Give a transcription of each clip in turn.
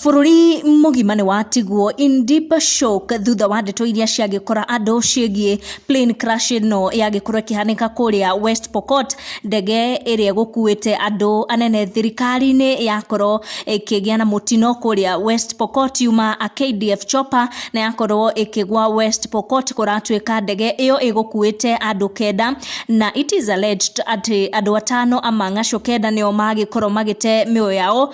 Bũrũri mũgima nĩ watigwo in deep shock thutha wa ndeto iria ciagĩkora andũ ciĩgiĩ plane crash ĩno yagĩkorwo ĩkĩhanĩka kũrĩa West Pokot, ndege ĩrĩa ĩgũkuĩte andũ anene thirikari-inĩ yakorwo ĩkĩgĩa na mũtino kũrĩa West Pokot yuma KDF Chopper na yakorwo ĩkĩgwa West Pokot kũratuĩka ndege ĩyo ĩgũkuĩte andũ kenda na it is alleged atĩ andũ atano a mang'acu kenda nĩo magĩkorwo magĩte mĩoyo yao.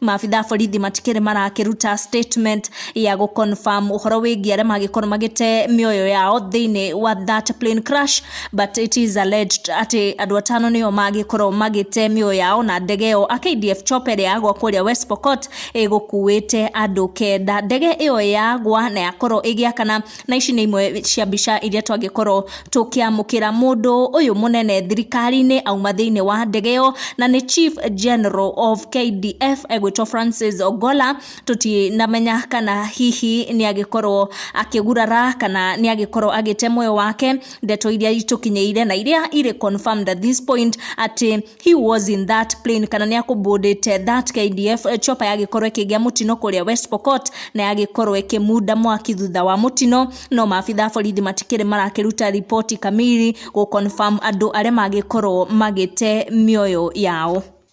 maabitha a borithi matikĩrĩ marakĩruta statement ya gũ confirm ũhoro wĩgiĩ arĩa magĩkorwo magĩte mĩoyo yao thĩinĩ wa that plane crash but it is alleged atĩ andũ atano nĩo magĩkorwo magĩte mĩoyo yao na ndege ĩyo a KDF chopper ĩrĩa yagwa kũrĩa West Pokot ĩgũkuĩte andũ kenda ndege ĩyo yagwa na yakorwo ĩgĩakana na ici nĩ imwe cia mbica iria twangĩkorwo tũkĩamũkĩra mũndũ ũyũ mũnene thirikari-inĩ auma thĩinĩ wa ndege ĩyo na nĩ chief general of KDF egwĩtwo Francis Ogola tũtinamenya kana hihi nĩ agĩkorwo akĩgurara kana nĩ agĩkorwo agĩte muoyo wake ndeto iria itũkinyĩire na iria irĩ confirmed at this point atĩ he was in that plane kana nä akåmbåndä that kdf eh, chopa yagĩkorwo ĩkĩgĩa mũtino kũrĩa west pokot na yagĩkorwo ĩkĩmunda mwaki thutha wa mũtino no maabitha a borithi matikĩrĩ marakĩruta ripoti kamiri gũconfirm andũ arĩa magĩkorwo magĩte mĩoyo yao